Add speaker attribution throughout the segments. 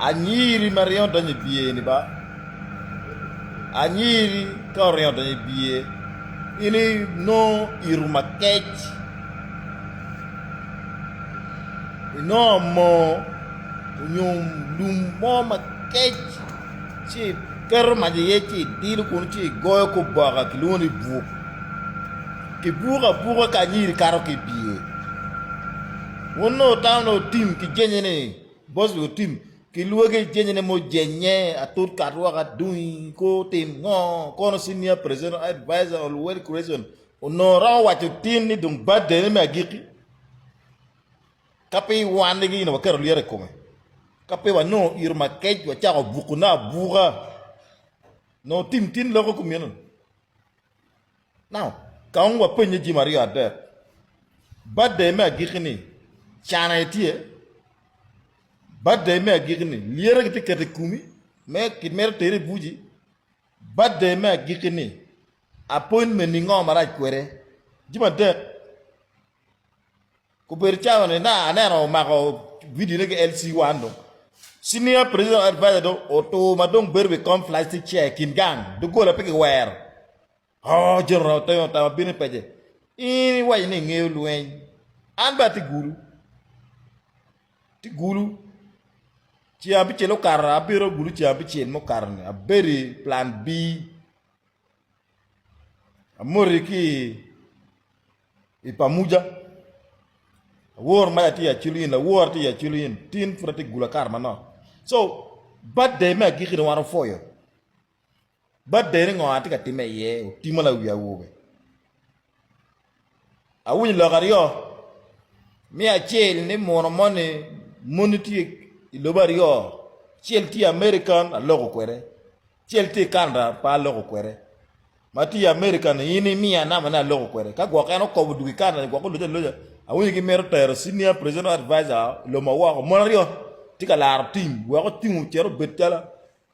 Speaker 1: Anyiri ma ringo donyo i biye ni ba anyiri ka oringo donyo i biye in i nongo ito makec i nongo moo onyo lum mo makec ci i keto mac i ye ci i dilo kunu ci i goyo ki oboke ki lwongo ni buk ki buko abuka ka anyiri kato ki i biye. Wun nongo tamo ni otim ki jenye ni boss wi otim ki lwagi jenye ni mujenye atut kat woko adungi ko otim ngo kono senior presidential advisor on wealth creation onongo romo waco tin ni dong birthday ne me agiki ka pe iwanne gi ino waketo lyeto ikome ka pe wanongo iro makec wacako buku ne abuka nongo tim tin loko kumino Now, ka wun wapenye jami aryo adek, Birthday me agikki-ni, can aye tye? Birthday me agikki-ni, lyere kitye keto i kumi me kimito tere i buci? Birthday me agikki-ni, appointment-ni ngo marac kwede? Jami adek. Obedo calo ni na aneno omako video ne ki LC one do. Senior Presidential Advisor do otur ma dong bedo wi kom plastic chair kin gang dogola pe kiwero. Oh General Otengo otamo bino i pece. In iwaco ni ingeyo lweny. An be ati gulu. Ti gulu. Ceng abicel okato abiro gulu ceng abicel mukato ni abedo i plan B. Amoti ki i pamuja awor ma atye aculu in awor atye aculu in tin pud atye gula kar manok so birthday me agiki ni wan opwoyo birthday ni ngo atye ka time iye otimo la wi awobe awinyo lok aryo mi acel ni muno moni moni tye i lobo aryo acel tye American aloko kwede Acel tye i Canada pe aloko kwede. Ma tye i America ni in imiya number ne aloko kwede. Ka gwok en okobo dwogo i Canada ni gwok oloje aloja, awinyo ki mito tero senior presidential advisor loma woko. Mon aryo tye ka laro team wek ocung ocit obed calo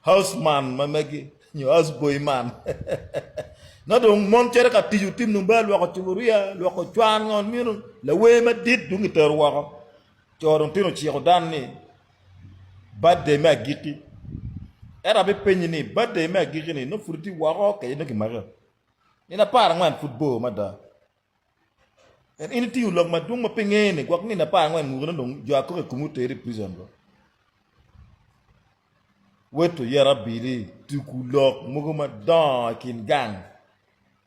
Speaker 1: house man ma megi nyo house boy man. Nongo dong mon cito ka tic otim dong bal lwoko cupuria, lwoko cwan ngo meno. Lawer madit dong kitero woko. Co dong tino ociko dan ni birthday me agikki. Ento abipenyi ni, birthday me agikki-ni nongo pud itye woko kadi nongo kimake? Nino apar angwen pud bor mada. Ento in itingo lok madwong ma pe ingene gwok nino apar angwen mukene dong jo akok i komi oteri i prison dong. Wed tuyera abili tuku lok mogo madongo i kin gang.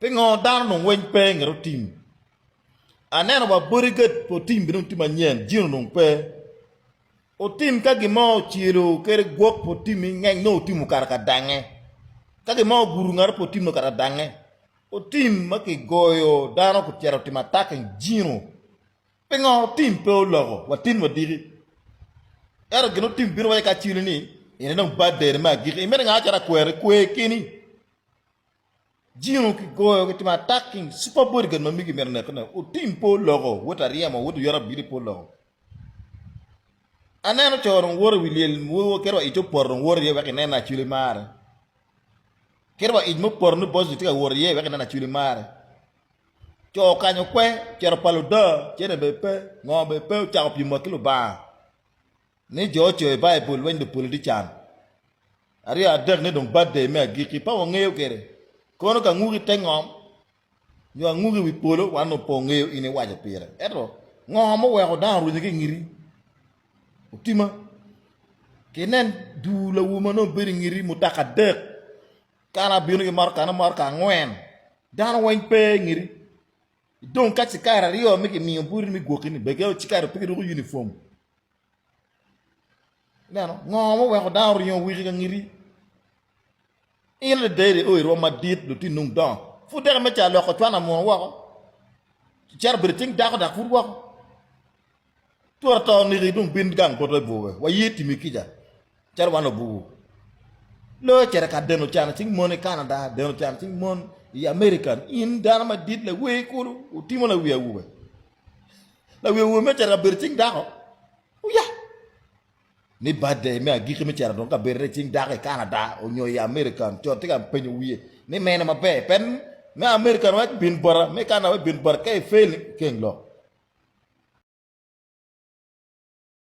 Speaker 1: Pingo dano onongo weng pe ngeto otim? Aneno wa bodyguard pa otim bene otim anyen jin onongo pe. Otim ka gin mo ocelo kede gwok pa otim ingeng nongo otim okato ka dange. Ka gin mo ogudo ngato pa otim nongo okato ka dange. Otim ma kigoyo dano kicito otimo attacking jino. Pingo otim pe oloko wa tin wadiki? Ento gin otim bino waci ka aceli ni ene dong birthday-ni me agikki imito ingaa calo akweri? Kwer keni. Jingo ki goyo ki timo attacking super bodyguard ma migi mito neke ne otim po loko wot aryemo wot oyot abili po loko aneno co rong wot iwi lyel kit wa ic to poto rong wot iye wek inen acwili mare kit wa ic mo poto ni bosni tye ka wot iye wek inen acwili mare co okanyo kwe cito palo da cene be pe ngo be pe ocako pyem wa ki lubanga Ni jo ocoyo i Baibul weng dong pole tye can aryo adek ni dong batday me agikki pa wangeyo kwede. Kono ka anguki te ngom nyo anguki wi polo wan dong pe wangeyo in iwaco pire. Ento ngo muweko dano orwenyo ki ingiti? Otima. Kinen duu lawu ma nongo bedo ingiti mutoka adek kala bino ki motoka ne motoka angwen. Dano weng pe ingiti. Dong ka ci kare aryo ma kimiyo boti me gwoki-ni, begge ci kare pe kiruko unifom. Ineno? Ngo ma oweko dano oringo wiki ka ngiti? In adada iri o irwo madit, lutinni dong dongo. Pud deke me ca loko cwan amuno woko, cito bedo ityeng dako dok pud woko. Twara to oniki dong bin gang poto i bwowe, waye timi kica calo wan obugu. Loo ecito ka deno can cing mon i Canada, deno can cing mon i American, in dano madit lawer kulu otimo lawi awobe. Lawi awobe me cito ka bedo cing dako? Uya! ni birthday me agiki me cito adwogi kabedone i cing dako i Canada onyo i American, co tye ka penyo wiye ni mene maber pen me American waco bin bota me Canada waco bin bota ka i fail keng lok.